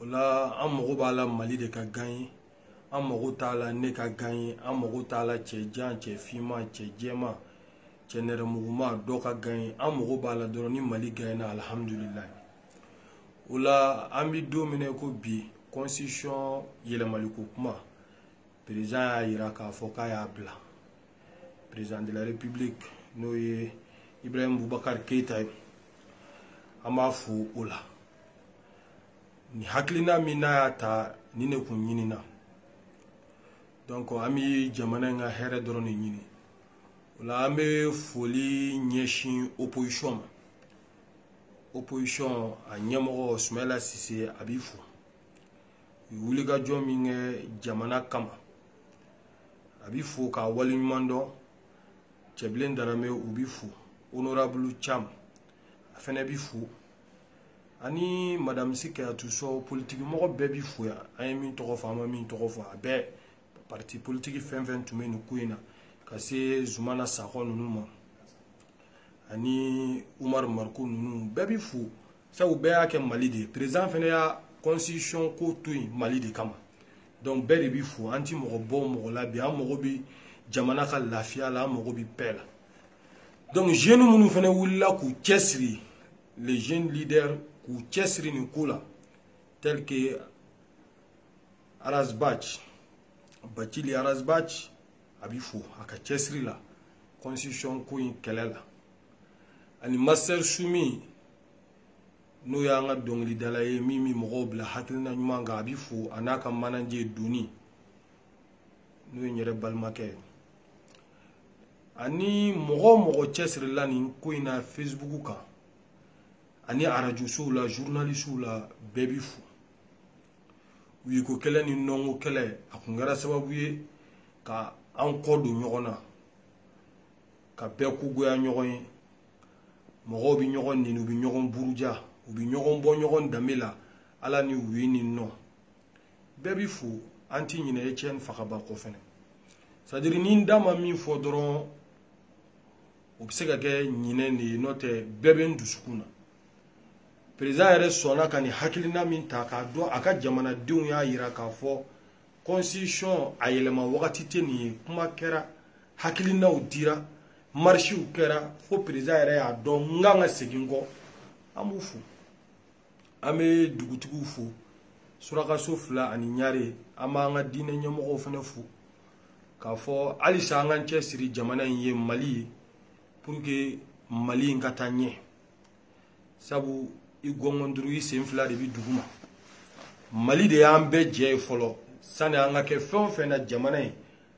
o la an mago b'a la mali de ka gaɲe an mago t'a la ne ka gaɲe an mago t'a la cɛ jan cɛ finman cɛ jɛman cɛ nɛrɛmuguma dɔ ka gaɲe an mago b'a la dɔrɔn ni mali gaɲena alihamudulilayi o la an bɛ don min na ko bi constitution yɛlɛmaliko kuma perezan y'a yira k'a fɔ k'a y'a bila président de la république n'o ye ibrahim bubakar keyita ye an b'a fo o la nin hakilina min n'a y'a ta nin de kun ɲinina donc an bɛ jamana in ka hɛrɛ dɔrɔn de ɲini o la an bɛ foli ɲɛsin opposition ma opposition a ɲɛmɔgɔ sumayila sise a bi fo u ye wulikajɔ min kɛ jamana kama a bi fo k'a waleɲuman dɔn cɛbilen daramɛ u bi fo honorable cam a fɛnɛ bi fo ani madame si kajatu sɔ politiki mɔgɔ bɛɛ bi fo yan an ye min tɔgɔ fɔ an ma min tɔgɔ fɔ a bɛɛ parti politiki fɛn fɛn tun bɛ nin ko in na ka se zumana sakɔ ninnu ma ani umaru mariko ninnu bɛɛ bi fo sabu bɛɛ y'a kɛ mali de ye président fana y'a constitution ko to yen mali de kama donc bɛɛ de bi fo an ti mɔgɔ bɔ mɔgɔ la bi an mago bi jamana ka lafiya la an mago bi paix la donc jeune minnu fana wulila k'u cɛsiri les jeunes leaders k'u cɛsiri nin ko la tel que ras bath bacili ras bath a bi fo a ka cɛsiri la constitution ko in kɛlɛ la ani master sumi n'o y'an ka dɔnkilidala ye min bɛ mɔgɔw bila hakilina ɲuman kan a bi fo a n'a ka manaje doni n'o ye n yɛrɛ balimakɛ ye ani mɔgɔ o mɔgɔ cɛsirila nin ko in na facebook kan ani arajosow la journalisiw la bɛɛ bi fo oui ko kɛlɛ ni non ko kɛlɛ a kun kɛra sababu ye ka an kɔ don ɲɔgɔn na ka bɛɛ ko goya ɲɔgɔn ye mɔgɔw bɛ ɲɔgɔn nɛni u bɛ ɲɔgɔn buruja u bɛ ɲɔgɔn bɔ ɲɔgɔn danbe la ala ni oui ni non bɛɛ bi fo an ti ɲinɛ etienne fakaba kɔ fɛnɛ c'est-à-dire ni n da ma min fɔ dɔrɔn o bɛ se ka kɛ ɲinɛ de ye n'o tɛ bɛɛ bɛ n dusukun na perezan yɛrɛ sɔnna ka nin hakilina min ta k'a dɔn a ka jamanadenw y'a yira k'a fɔ constitution a yɛlɛma wagati tɛ nin ye kuma kɛra hakilinaw dira marisiw kɛra fo perezan yɛrɛ y'a dɔn n kan ka segin kɔ an b'u fo an bɛ dugutigiw fo surakaso fila ani ɲare an b'an ka diinɛ ɲɛmɔgɔw fana fo k'a fɔ halisa an k'an cɛsiri jamana in ye mali ye pour que mali in ka taa ɲɛ sabu i gɔngɔn duuru i sen fila de bɛ dugu ma mali de y'an bɛɛ jɛ ye fɔlɔ sani an ka kɛ fɛn o fɛn na jamana ye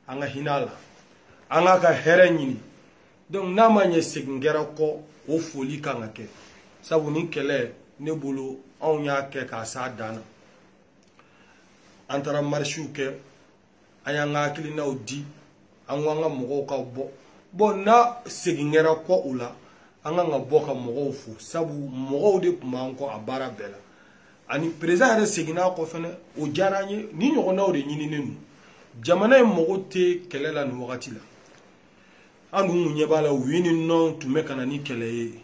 an ka hinɛ a la an k'a ka hɛrɛ ɲini donc n'a ma ɲɛ segin kɛra kɔ o foli kan ka kɛ sabu nin kɛlɛ ne bolo anw y'a kɛ k'a s'a dan na an taara marisiw kɛ an y'an ka hakilinaw di an ko an ka mɔgɔw ka bɔ bɔn n'a segin kɛra kɔ o la an kan ka bɔ ka mɔgɔw fo sabu mɔgɔw de tun b'an kɔ a baara bɛɛ la ani perezidan yɛrɛ seginna a kɔ fɛnɛ o diyara an ye nin ɲɔgɔnnaw de ɲininen don jamana in mago tɛ kɛlɛ la nin wagati la an dun kun ɲɛ b'a la oui ni non tun bɛ ka na ni kɛlɛ ye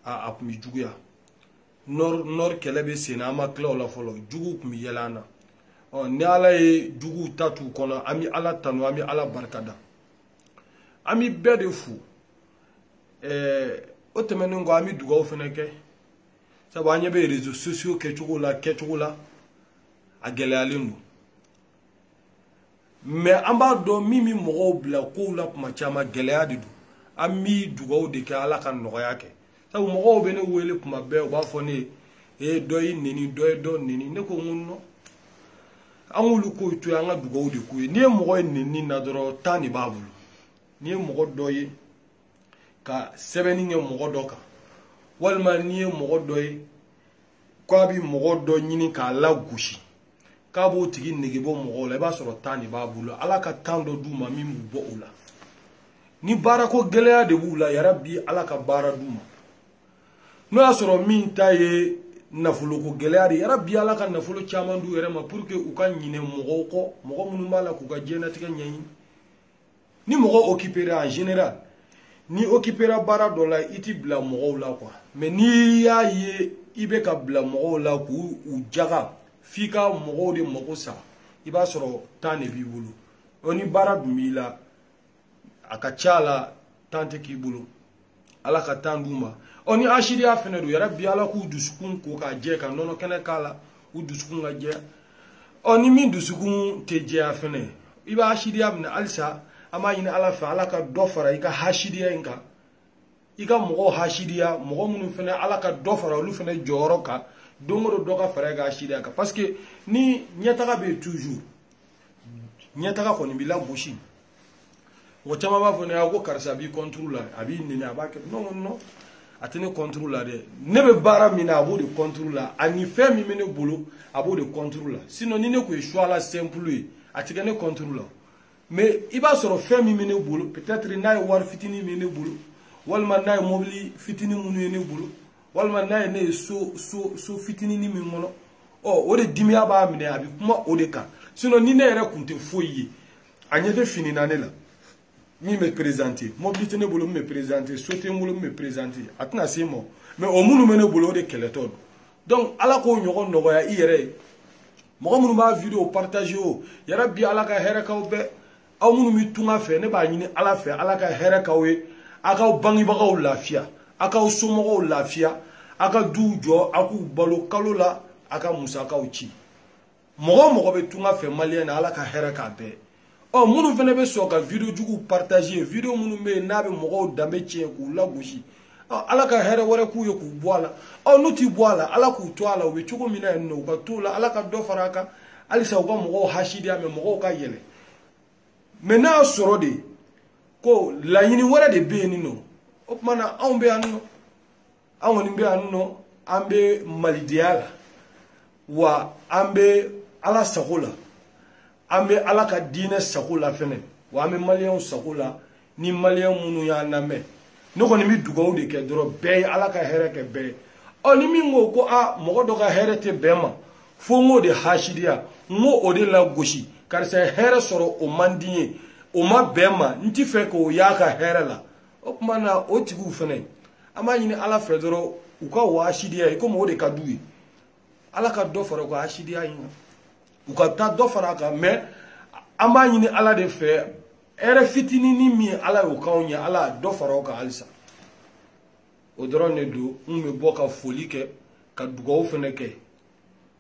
a a tun bɛ juguya nord nord kɛlɛ bɛ sen na an ma tila o la fɔlɔ juguw tun bɛ yɛlɛ an na ɔ ni ala ye juguw ta t'u kɔnɔ an bɛ ala tanu an bɛ ala barika da an bɛ bɛɛ de fo ɛɛ o tɛmɛnen kɔ an bɛ dugawu fana kɛ sabu an ɲɛ bɛ réseaux sociaux kɛcogo la kɛcogo la a gɛlɛyalen don mais an b'a dɔn min bɛ mɔgɔw bila kow la kuma caman gɛlɛya de don an bɛ dugawu de kɛ ala ka nɔgɔya kɛ sabu mɔgɔw bɛ ne wele kuma bɛɛ u b'a fɔ ne ye ee dɔ y'i neni dɔ ye dɔ neni ne ko n ko non an k'olu kow to yen an ka dugawu de k'u ye n'i ye mɔgɔ ye neni na dɔrɔn temps de b'a bolo n'i ye mɔgɔ dɔ ye ka sɛbɛnni kɛ mɔgɔ dɔ kan walima n'i ye mɔgɔ dɔ ye k'a bi mɔgɔ dɔ ɲini k'a lagosi k'a b'o tigi nege bɔ mɔgɔw la i b'a sɔrɔ temps de b'a bolo ala ka temps dɔ d'u ma min b'u bɔ o la ni baarako gɛlɛya de b'u la yarabi ala ka baara d'u ma n'o y'a sɔrɔ min ta ye nafoloko gɛlɛya de yarabi ala ka nafolo caman d'u yɛrɛ ma pour que u ka ɲinɛ mɔgɔw kɔ mɔgɔ minnu b'a la k'u ka diɲɛnatigɛ ɲɛɲini ni mɔgɔ okipera en général n'i okipera baara dɔ la i tɛ bila mɔgɔw la quoi mais n'i y'a ye i bɛ ka bila mɔgɔw la k'u u jaga f'i ka mɔgɔw de mago sa i b'a sɔrɔ temps de b'i bolo ɔ ni baara dun b'i la a ka ca a la temps tɛ k'i bolo ala ka temps d'u ma ɔ ni hasidiya fɛnɛ don yarabi ala k'u dusukun ko ka jɛ ka nɔnɔ kɛnɛ k'a la u dusukun ka jɛ ɔ ni min dusukun tɛ jɛya fɛnɛ i bɛ hasidiya min na halisa an b'a ɲini ala fɛ ala ka dɔ fara i ka hasidiya in kan i ka mɔgɔw hasidiya mɔgɔ minnu fɛnɛ ala ka dɔ fara olu fɛnɛ jɔyɔrɔ kan don o don dɔ ka fara i ka hasidiya kan parce que ni ɲɛtaga bɛ yen toujours ɲɛtaga kɔni b'i lagosi mɔgɔ caman b'a fɔ ne ye ko karisa b'i kɔnturu la a b'i nɛni a b'a kɛ non non a tɛ ne kɔnturu la dɛ ne bɛ baara min na a b'o de kɔnturu la ani fɛn min bɛ ne bolo a b'o de kɔnturu la sinon ni ne tun ye choix la simple ye a tɛ kɛ ne kɔnturu la mais i b'a sɔrɔ fɛn min bɛ ne bolo peut-être n'a ye wari fitinin min ye ne bolo walima n'a ye mɔbili fitinin minnu ye ne bolo walima n'a ye ne ye so so so fitinin min kɔnɔ ɔ o de dimiya b'a minɛ a bɛ kuma o de kan sinon ni ne yɛrɛ tun tɛ foyi ye a ɲɛ tɛ fini na ne la min bɛ perezante mɔbili tɛ ne bolo min bɛ perezante so tɛ n bolo min bɛ perezante a tɛna se n ma mɛ o minnu bɛ ne bolo o de kɛlɛtɔ don donc ala k'o ɲɔgɔn nɔgɔya i yɛrɛ ye mɔgɔ minnu b'a video partage o yɛrɛ bi ala ka hɛrɛ k'aw bɛɛ aw minnu bɛ tunga fɛ ne b'a ɲini ala fɛ ala ka hɛrɛ k'aw ye a k'aw bangebagaw lafiya a k'aw somɔgɔw lafiya a ka duw jɔ a k'u balo kalo la a ka musakaw ci mɔgɔ o mɔgɔ bɛ tunga fɛ maliyɛn na ala ka hɛrɛ k'a bɛɛ ɔ oh, minnu fana bɛ sɔn ka video juguw partager video minnu bɛ yen n'a bɛ mɔgɔw danbe tiɲɛ k'u lagosi ɔ oh, ala ka hɛrɛ wɛrɛ k'u ye k'u bɔ a la ɔ oh, n'u ti bɔ a la ala k'u to a la u bɛ cogo min na yen nɔ u ka t'o la ala ka dɔ fara a kan halisa u ka mɔgɔw hasidiya mɛ mɔgɔw ka yɛlɛ mɛ n'a sɔrɔ de ko laɲini wɛrɛ de bɛ yen nin nɔ o tuma na anw bɛ yan nɔ an kɔni bɛ yan nɔ an bɛ malidenya la wa an bɛ ala sago la an bɛ ala ka diinɛ sago la fɛnɛ wa an bɛ maliyɛnw sago la ni maliyɛn minnu y'an lamɛn ne kɔni bɛ dugawu de kɛ dɔrɔn bɛɛ ye ala ka hɛrɛ kɛ bɛɛ ye ɔ ni min ko ko a mɔgɔ dɔ ka hɛrɛ tɛ bɛn n ma fo n k'o de hasidiya n k'o o de lagosi karisa ye hɛrɛ sɔrɔ o man di n ye o ma bɛn n ma n t'a fɛ k'o y'a ka hɛrɛ la o tuma na o tigiw fɛnɛ an b'a ɲini ala fɛ dɔrɔn u ka o hasidiya in komi o de ka d'u ye ala ka dɔ fara u ka hasidiya in kan u ka taa dɔ fara a kan mɛ an b'a ɲini ala de fɛ hɛrɛ fitinini min ye ala y'o k'anw ye ala ka dɔ fara o kan halisa o dɔrɔn de don n bɛ bɔ ka foli kɛ ka dugawu fɛnɛ kɛ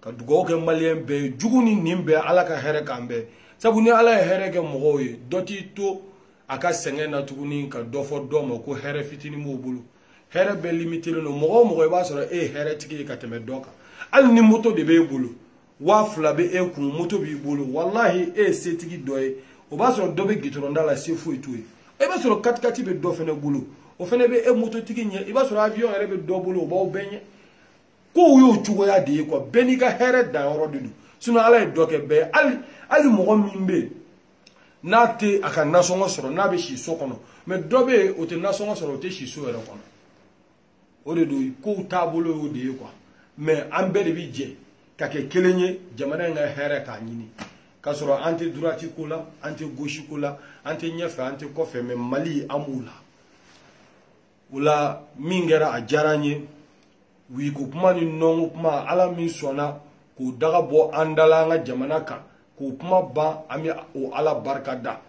ka dugawu kɛ maliyɛn bɛɛ ye jugu ni ɲin bɛɛ ala ka hɛrɛ k'an bɛɛ sabu ni ala ye hɛrɛ kɛ mɔgɔw ye dɔ t'i to a ka sɛgɛn na tuguni ka dɔ fɔ dɔ ma ko hɛrɛ fitinin b'o bolo hɛrɛ bɛɛ limitelen don mɔgɔ o mɔgɔ i b'a sɔrɔ e ye hɛrɛtigi ye ka tɛmɛ dɔ kan hali ni moto de b'e bolo waa fila bɛ e kun moto b'i bolo walahi e ye setigi dɔ ye i b'a sɔrɔ dɔ bɛ gitɔrɔn da la se foyi t'o ye i b'a sɔrɔ katikati bɛ dɔ fɛnɛ bolo o fɛnɛ bɛ e mototigi ɲɛ i b'a sɔrɔ avion yɛrɛ bɛ dɔ bolo o b'aw bɛɛ ɲɛ kow y'o cogoya de ye kuwa bɛɛ n'i ka hɛrɛ danyɔrɔ de don sinɔn ala ye dɔ kɛ bɛɛ ye hali hali mɔgɔ min bɛ yen n'a tɛ a ka nasɔngɔ sɔrɔ n'a bɛ si so kɔnɔ mɛ dɔ bɛ yen o tɛ nasɔngɔ sɔrɔ o tɛ si so yɛrɛ kɔnɔ o de don kow taabolo y'o de ye kuwa mɛ an bɛɛ de bɛ jɛ ka kɛ kelen ye jamana in ka hɛrɛ k'a ɲini k'a sɔrɔ an tɛ droite ko la an tɛ gauche ko la an tɛ ɲɛfɛ an tɛ kɔfɛ mɛ mali an b'o la o la min kɛra a diyara n ye wiko kuma ni nɔnko kuma ala min sɔnna k'o daga bɔ an da la an ka jamana kan k'o kuma ban an bɛ o ala barika da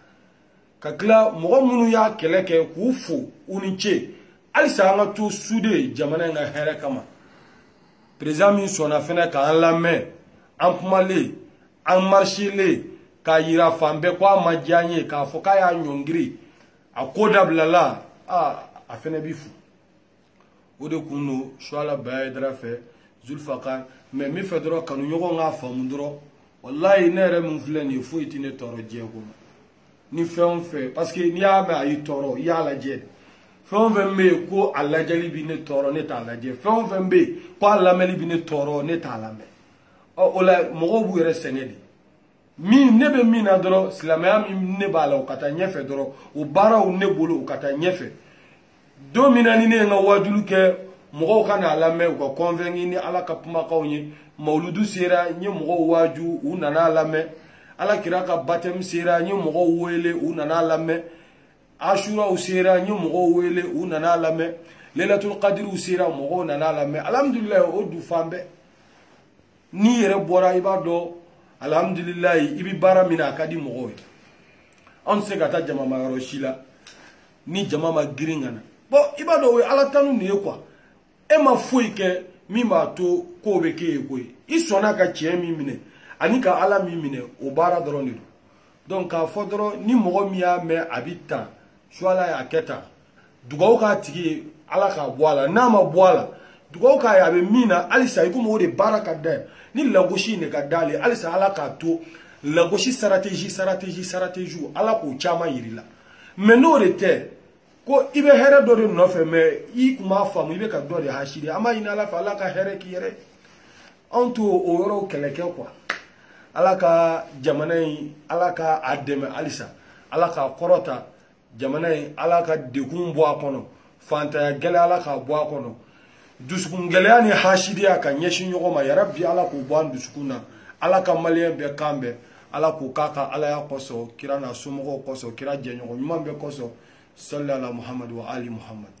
ka tila mɔgɔ minnu y'a kɛlɛ kɛ k'u fo u ni ce halisa an ka to sude jamana in ka hɛrɛ kama perezidan min sɔnna fɛnɛ k'an lamɛn an kumalen an marisilen k'a yira fan bɛɛ ko a ma diya n ye k'a fɔ k'a y'a ɲɔngiri a ko dabilala aa a fɛnɛ b'i fo o de kun don suala baya hayidara fɛ zulfakar mɛ min fɛ dɔrɔn kanuɲɔgɔn k'a faamu dɔrɔn walayi ne yɛrɛ min filɛ nin ye foyi tɛ ne tɔɔrɔ diɲɛ kɔnɔ ni fɛn o fɛn parce que n'i y'a mɛn a y'i tɔɔrɔ i y'a lajɛ fɛn o fɛn bɛ yen ko a lajɛli bɛ ne tɔɔrɔ ne t'a lajɛ fɛn o fɛn bɛ yen ko a lamɛnni bɛ ne tɔɔrɔ ne t'a lamɛn ɔ o la mɔgɔw b'u yɛrɛ sɛgɛn de min ne bɛ min na dɔrɔn silamɛya min ne b'a la o ka taa ɲɛfɛ dɔrɔn o baaraw ne bolo o ka taa ɲɛfɛ don min na ni ne ye n ka waajuli kɛ mɔgɔw ka n'a lamɛn u ka convaincu ni ala ka kumakanw ye mawuludu sera n ye mɔgɔw waaju u nana a lamɛn ala kira ka batɛmu sera n ye mɔgɔw wele u nana a lamɛn asuraw sera n ye mɔgɔw wele u nana a lamɛn lelatul kadiriw sera mɔgɔw nana a lamɛn alhamdulilayi o dun fan bɛɛ n'i yɛrɛ bɔra i b'a dɔn alihamudulilayi i bɛ baara min na a ka di mɔgɔw ye anw tɛ se ka taa jama ma yɔrɔ si la ni jama ma girin ka na bɔn i b'a dɔn o ye ala tanu de ye kuwa e ma foyi kɛ min b'a to kow bɛ k'e ye koyi i sɔnna ka tiɲɛ min minɛ ani ka ala min minɛ o baara dɔrɔn de don donc k'a fɔ dɔrɔn ni mɔgɔ min y'a mɛn a bɛ tan suala y'a kɛ tan dugawu k'a tigi ye ala k'a bɔ a la n'a ma bɔ a la dugawu k'a ye a bɛ min na halisa i komi o de baara ka d'a ye ni lagosi in de ka d'ale ye halisa ala k'a to lagosi sarategi sarategi sarategiw ala k'o caman yir'a la mɛ n'o de tɛ ko i bɛ hɛrɛ dɔ de nɔfɛ mɛ i kun b'a faamu i bɛ ka dɔ de hasidi an b'a ɲini ala fɛ ala ka hɛrɛ k'i yɛrɛ anw t'o o yɔrɔw kɛlɛ kɛ kuwa ala ka jamana in ala ka a dɛmɛ halisa ala k'a kɔrɔta jamana in ala ka degun bɔ a kɔnɔ fantanya gɛlɛya ala k'a bɔ a kɔnɔ dusukun gɛlɛya ni hasidiya ka ɲɛsin ɲɔgɔn ma yarabi ala k'o bɔ an dusukun na ala ka maliyɛn bɛɛ kan bɛn ala k'o k'a ka alaya kosɔn kira n'a somɔgɔw kosɔn kira jɛɲɔgɔn ɲuman bɛɛ kosɔn salli ala muhamadu wa ali muhamadu